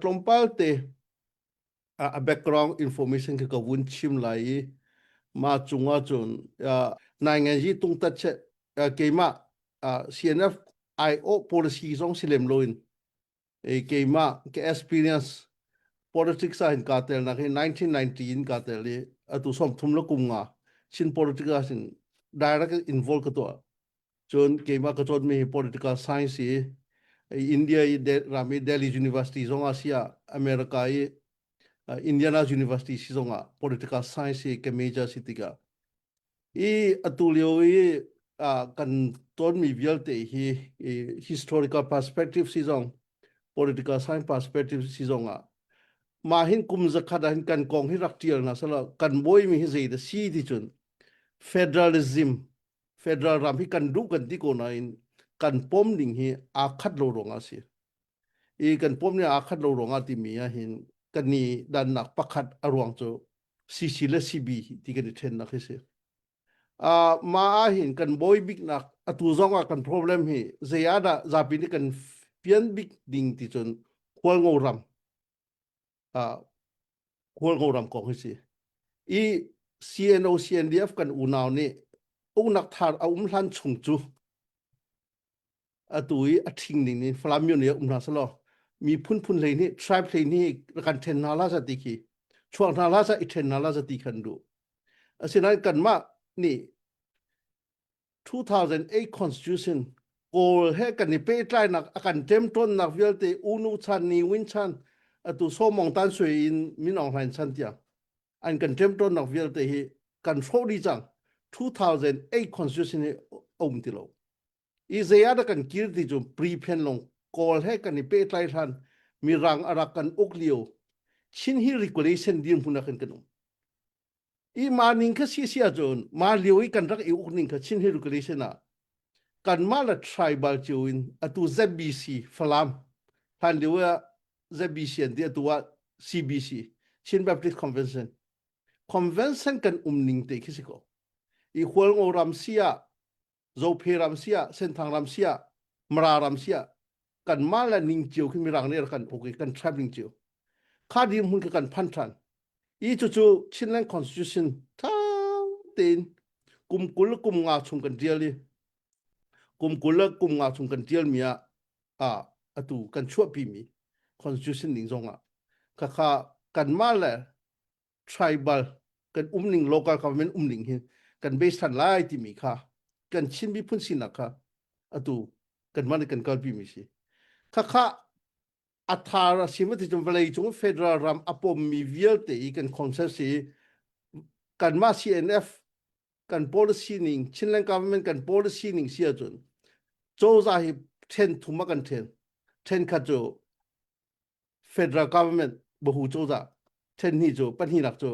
tlawmpal te a background information ka ka vun chim lai i ma chunga chun nai ngan ji tung tat che keima CNF IO policy zong si lem loin e keima ke experience politics in ka tel na ke 1990 in ka tel i atu som thum la kum nga chin politics in direct involve ka to Cun keimah ka cawnmi political science i India i ram i Delhi University zongah si ah America i Indiana University si zongah political science hi ka major si tikah i atu lio i kan tonmi vialte hi historical perspective si zong political science perspective si zongah mah hin kum zakhat ah hin kan kong hi rak tial hna selaw kan bawimi hi zei dah si ti cun federalism federal ram hi kan duh kan ti ko nain kan pom ning hi aa khat lo ruangah si i kan pom ning aa khat lo ruangah timi ahhin kan ni dannak pakhat a ruang cu CC le CB ti kan i ṭhennak hi si uh, ma ahhin kan boi biknak atu zongah kan problem hi zeiadah zapi nih kan fian bik ding ti cun khualngo ram Kawlgo ram kong hi si. I CNO CNDF kan unau nih uknak thar a um hlan chung cu atu i a thing ning nih Falam myo nih um hna selaw mi phunphun hlei nih tribe hlei nih kan then hna la za ti khi chuak hna la za i then hna la za ti khan du asinain kanmah nih 2008 constitution kawl he kan i pehtlainak a kan ṭemṭawnnak vialte unu chan ni win chan atu somong tan sui in min ong hlain chan tiang an kan ṭemṭawnnak vialte hi kan hro di cang 2008 constitution hi um ti lo i zayada kan kir ti chu pre-pen long kawl he kan i pehtlai hlan mi rang arak kan uk lio chin hi regulation dir hmunak in kan um i ma ning kha si si ahcun ma lio i kan rak i uk ning kha chin hiru kali sinah kanmah la tribal cio in atu ZBC Falam hlan lio ah ZBC an ti atu ah CBC Chin Baptist Convention convention kan um ning te khi si ko i hual ngo ram si ah Zophe ram sia, Senthang ram sia, Mara ram sia, kanmah le ning cio khi mirang ner kan puk i kan tram ning cio. Kha ding hmun ka kan phan than. I cu cu Chinland Constitution tha tein kum kul le kum nga chung kan tial i kum kul le kum nga chung kan tial mi ah a atu kan chuah pi mi constitution ning zong ah khakha kanmah le tribal kan um ning loka ka men um ning hin kan be san lai ti mi kha kan chin bi phun sinak kha atu kan man kan kal pi mi si kha kha athara simati chum vlei chung federal ram apom mi vialte i kan consensus i kan ma CNF kan policy ning Chinland government kan policy ning sia chun choza hi then thuma kan then then kha chu federal government bahu cozah thenhni cu pahnih lak cu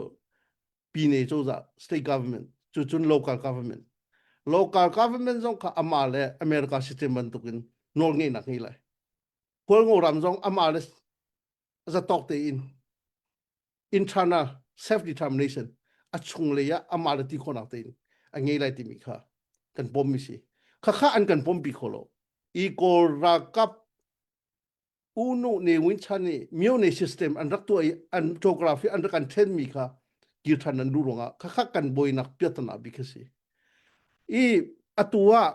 pine cozah state government cu cun local government local government zong kha ama le america system bantuk in nawl ngeihnak ngei lai kawlngo ram zong ama le zatawk te in internal self determination a chung lei ah ama le ti khonak te in a ngei lai timi kha kan pom mi si khakha an kan pom pi kho lo i kawl ralkap U Nu Ne Win Chan nih Myone system an rak tuah i an geography an rak an then mi kha kir than an duh ruangah khakhak kan boinak piatana bik a si i atu ah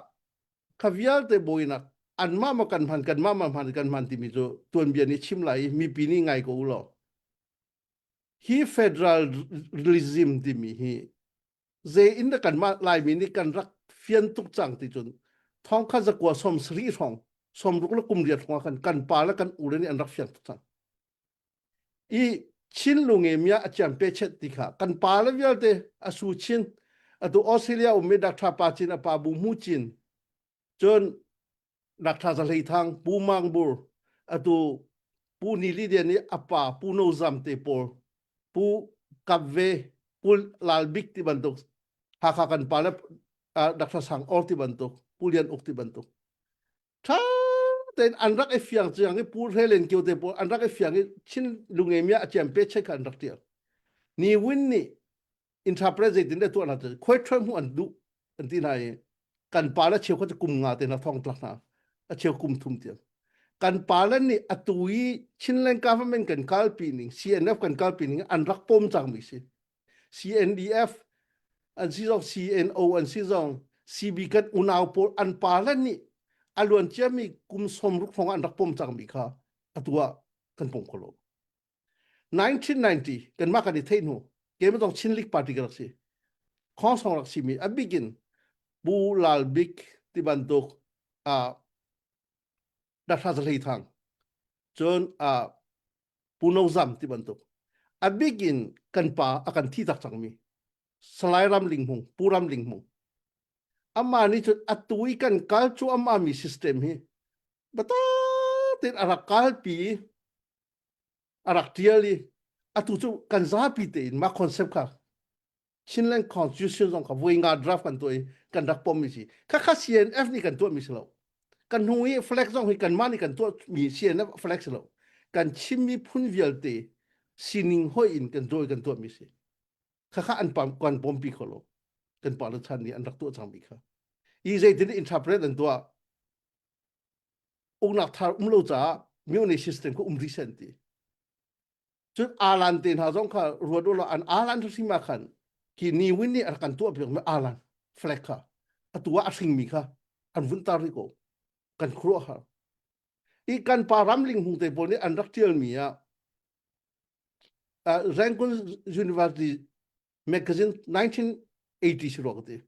kha vialte boinak anmah ma kan hman kanmah ma hman kan hman timi cu tuanbia nih chim lai i mipi nih ngai ko u law Hi federalism timi hi zei in da kanmah Laimi nih kan rak fian tuk cang ti cun thongkha zakua som sari hrawng som ruk le kum riat hrawng kan kan pa le kan u le nih an rak fiang tuk cang i chin lunge mia a ciam pe chet ti kha kan pa le vialte a su chin atu australia ummi doctor pa cin a pa bu mu cin cun nakṭha sa hleithang pu mang bur atu pu ni li dia ni apa pu no zam te pawl pu kap ve kul lal bik ti bantuk hakha kan pa le dakta sang or ti bantuk pu lian uk ti bantuk tha ten an rak e fiang chiang ni pu helen kyo te pawl an rak e fiang ni chin lunge mia achem pe che kan rak tial ni win ni intrapress zeitin deh tuah hna tu khuaithuan hmuh an duh an ti hna i kan pa le cheu kha kum nga te na thong tlak hna a cheu kum thum tiang kan pa le nih a tu i Chinland government kan kalpi ning CNF kan kalpi ning an rak pom cang mi si CNDF an si zong CNO an si zong CB kan unau pawl an pa le nih a luan cia mi kum som ruk hong an rak pom cang mi kha a tua kan pom kho lo 1990 kanmah kan i theih hnu keimah zong Chin League Party ka rak si khongsong rak simi a bik in Pu Lal Bik ti bantuk uh, Dasha Zahlei Thang cun uh, Pu No Zam ti bantuk a bik in kan pa a kan thi tak cangmi Salai Ram Ling Hmung Pu Ram Ling Hmung amma nih cun atu i kan kal cu amma mi system hi bata tin a rak kalpi a rak tial i atu cu kan zapi tein mah concept kha Chinland Constitution zong kha voi nga draft kan tuah i kan rak pom mi si khakha CNF nih kan tuah mi si lo kan hnu i flag zong hi kan mah nih kan tuah mi CNF flag si lo kan chim mi phun vialte sining hoi in kan dawi kan tuah mi si khakha an pam kan pom pi kho lo kan pa le chan nih an rak tuah cang mi kha i zeitin interpret an tuah uknak thar um lo caah myone system ko um rih sen ti cun alan te hna zong kha ruat ulaw an alan thu sima khan ki ni win ni ar kan tuah piak me alan flag kha atua a hring mi kha an vun tar ri ko kan khro har i kan pa ramling hung te pawl nih an rak tial mi ah uh, Rangoon University magazine 1980 ruak ti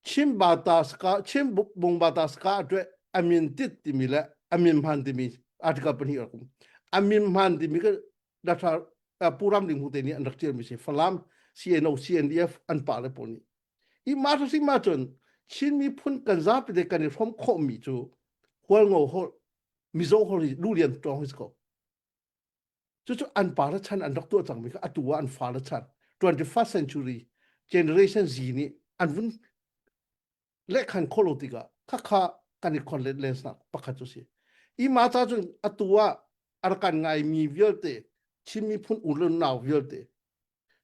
chin ba ta ska chin bung ba ta ska twe amin tit timi le amin man timi article pahnih rakum amin man timi ka data puram ding hute ni an rak tial mi se falam CNO CNDF an pa le poni i ma sa sing ma chun chin mi phun kan za pe de kan i rom kho mi chu hual ngo ho mizo ho lu lian tong his ko Cucu an pa le chan an rak tuah cangmi kha atu ah an fa le chan 21st century generation Z nih an vun lehkhan khawh lo tikah khakha kan i khon let lensnak pakhat cu si. Hi ma ca cun atu ah arkan ngaimi vialte Chin miphun unau vialte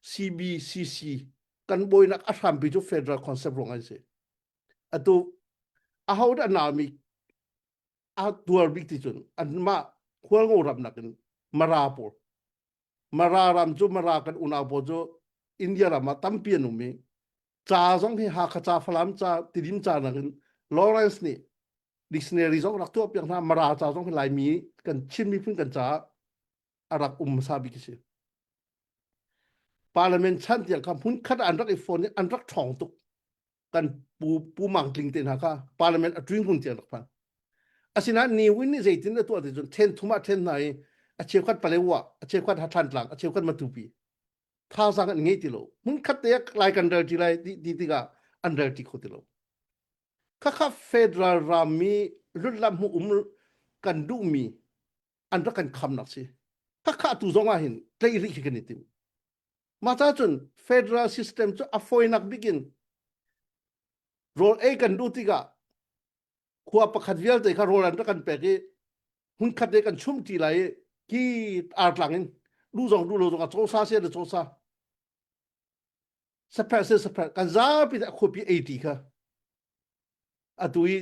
CBCC kan boinak a hrampi cu federal concept rong an si. Atu a ho dah naumi a tuar bik ti cun anmah khualngo ram nakin mara pawl mara ram cu mara kan unau pawl cu india ram ah tampi an um i ca zong hi hakha ca falam ca tidim ca nakin lawrence nih dictionary zong rak tuah piak hna mara ca zong hi laimi kan chin miphun kan caah a rak um hmasa bik si parliament chan tiang kha hmun khat an rak i fon i an rak ṭhawng tuk kan pu pu mang tling te hna kha parliament a tuin hun tiang rak phan asina ni win ni zeitin a tuah ti cun then thuma then hna i a cheukhat pale wa a cheukhat ha than tlang a cheukhat matupi thausang an ngei ti lo mun khat te lai kan rel ti lai ti ti tiga an rel ti kho ti lo kha kha federal ram mi lutlam mu um kan du mi an ra kan kham nak si kha kha tu zonga hin tlei ri khi kan itim Mah ca cun federal system cu a fawinak bik in rawl ei kan duh tikah khua pakhat vialte kha rawl an rak kan pek i hmunkhat ne kan chumti lai i ki artlang in duh zong duh lo zong ah cawsa se le cawsa sapherh se sapherh kan zapi nih a khuapi ei ti kha atu i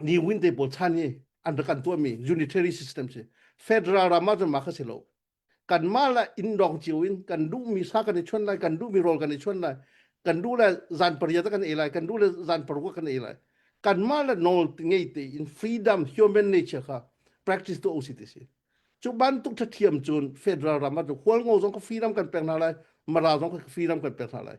ni win te pawl chan hi an rak kan tuah mi unitary system si federal ram ah cun ma kha si lo kan mah la in dong cio in kan duh mi sa kan i chon lai kan duh mi rol kan i chon lai kan duh le zan pariat kan ei lai kan duh le zan paruk kan ei lai kan mah la nawl ngei te in freedom human nature kha practice to osi ti si cu bantuk tha thiam cun federal ram ah hual ngo zong ka freedom kan pek na lai mara zong ka freedom kan pek na lai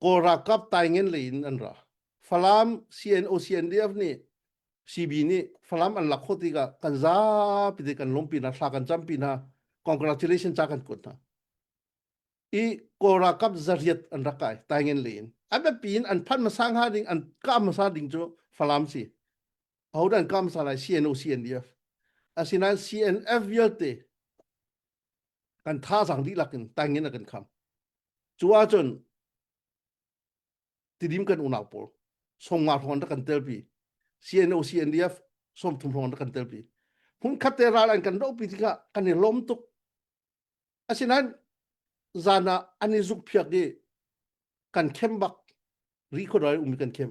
Kawl ralkap taingen lei in an ra. Falam CNOCNDF nih CB nih Falam an lak khawh tikah kan zapi te kan lompi hna, thla kan campi hna, congratulations ca kan kuat hna. I Kawl ralkap zariat an rak kai taingen lei in. A biapi in an phan masa hnga ding, an ka masa ding cu Falam si. Ahodan ka masa lai CNOCNDF. Asinain CNF vialte kan thazang dihlak in tangin a kan kham cu ahcun tidim kan unau pawl songa hrawng da kan telpi CNO CNDF som thum hrawng da kan telpi hmun khat te ral an kan ropi tikah kan i lom tuk asinain zan ah an i zuk phiak i kan khem bak ri khodai umi kan khem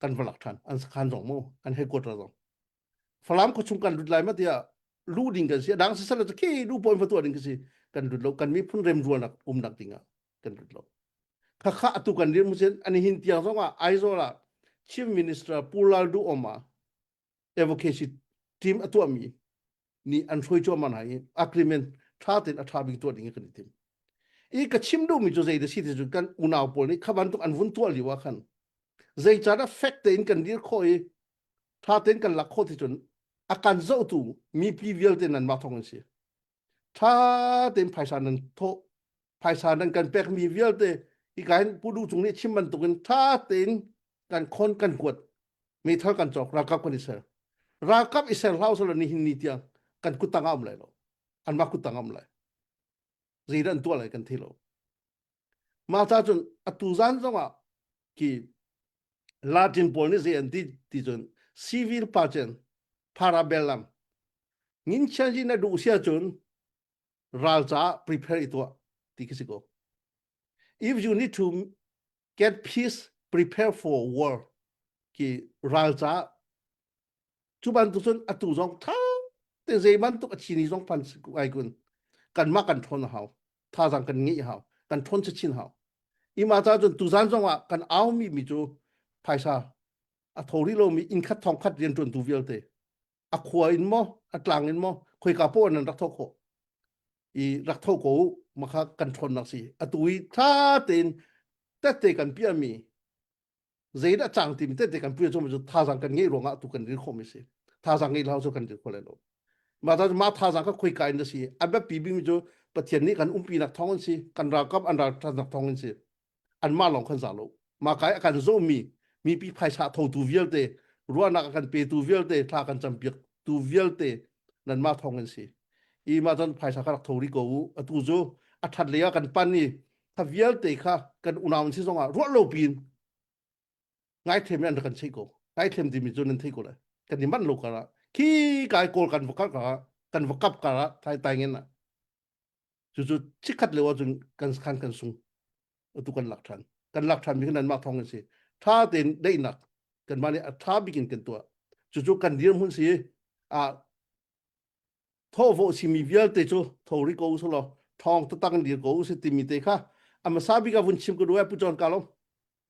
kan va lak than an sakhan zong mu kan headquarter zong falam kho chung kan lut lai ma tia lu ding kan si dang si sala ke lu point fatu ding kasi kan lut lo kan mi phun rem rual nak um nak dinga kan lut lo kha kha atu kan rim sen ani hin tiang zong a aizola chief minister pulal du oma advocacy team a tuahmi nih an hruai cuahmah hna i agreement tha tein a tha bik tuah ding kan i tim i ka chim duhmi cu zei da si ti cu kan unau pawl nih kha bantuk an vun tuah lio ah khan zeican ah fek tein kan dir khawh i tha tein kan lak khawh ti cun a kan zohtu mipi vialte nan mah thawng an si tha tein phaisa nan thawh phaisa nan kan pek mi vialte i kain pudu cung nih chim bantuk in tha tein kan khon kan kuat mi thal kan cawk ralkap kan isel ralkap isel hlau sal ni hin ni tiang kan kutang am lai lo an ma kutang am lai zei dan tua lai kan thi lo Mah ca cun atu zan zongah ki Latin pawl nih zei an ti ti cun civil pachen parabel lam ngin chia hi na duh sia cun ral caah prepare i tuah ti khi si ko if you need to get peace prepare for war ki ral caah cu bantuk cun atu zong tha te zei bantuk a thi ni zong pan ai kun kanmah kan ṭhawn hau thazang kan ngeih hau kan ṭhawn se chin hau ima ca cun tuzan zong ah kan au mi mi cu phaisa a tho ri lo mi inn khat thong khat rian ṭuan tu vialte a khua in mo a tlang in mo khoi ka po nan rak tho ko i rak tho ko makha kan ṭhawn nak si atu i tha tein tette kan pia mi zeidah cang timi tete kan puya chungmi cu thazang kan ngei ruangah tu kan rir khawmi si thazang ngei lau cu kan rir kho lai lo ma ta ma thazang ka khoi kain da si abat pi bimi cu pathian nih kan umpi nak thong an si kan ralkap an ral than nak thong an si an ma long kan za lo ma kai kan zo mi mi pi phaisa tho tu vialte ruahnak kan pe tu vialte thla kan champiak tu vialte nan ma thong an si i ma chan phaisa ka rak tho ri ko u atu chu a that le kan pan ni tha vialte kha kan unau si zongah ruah lo piin ngai them in an kan sei ko ngai them ti mi cu nan thei ko lai kan i manh lo kara khi kai kol kan va kap kara kan va kap kara thai tai ngen na chu chu chikhat le wa cun kan khan kan sung tu kan lak than kan lak than mi nan ma thong si tha ten dei nak kan mani a tha bikin kan tua chu chu kan dir mun si a thawhvawh simi vialte cu thori ko usih law thawng tatak dir ko usih timi te kha a hmasa bik ah vun chim ka duai pu john kalom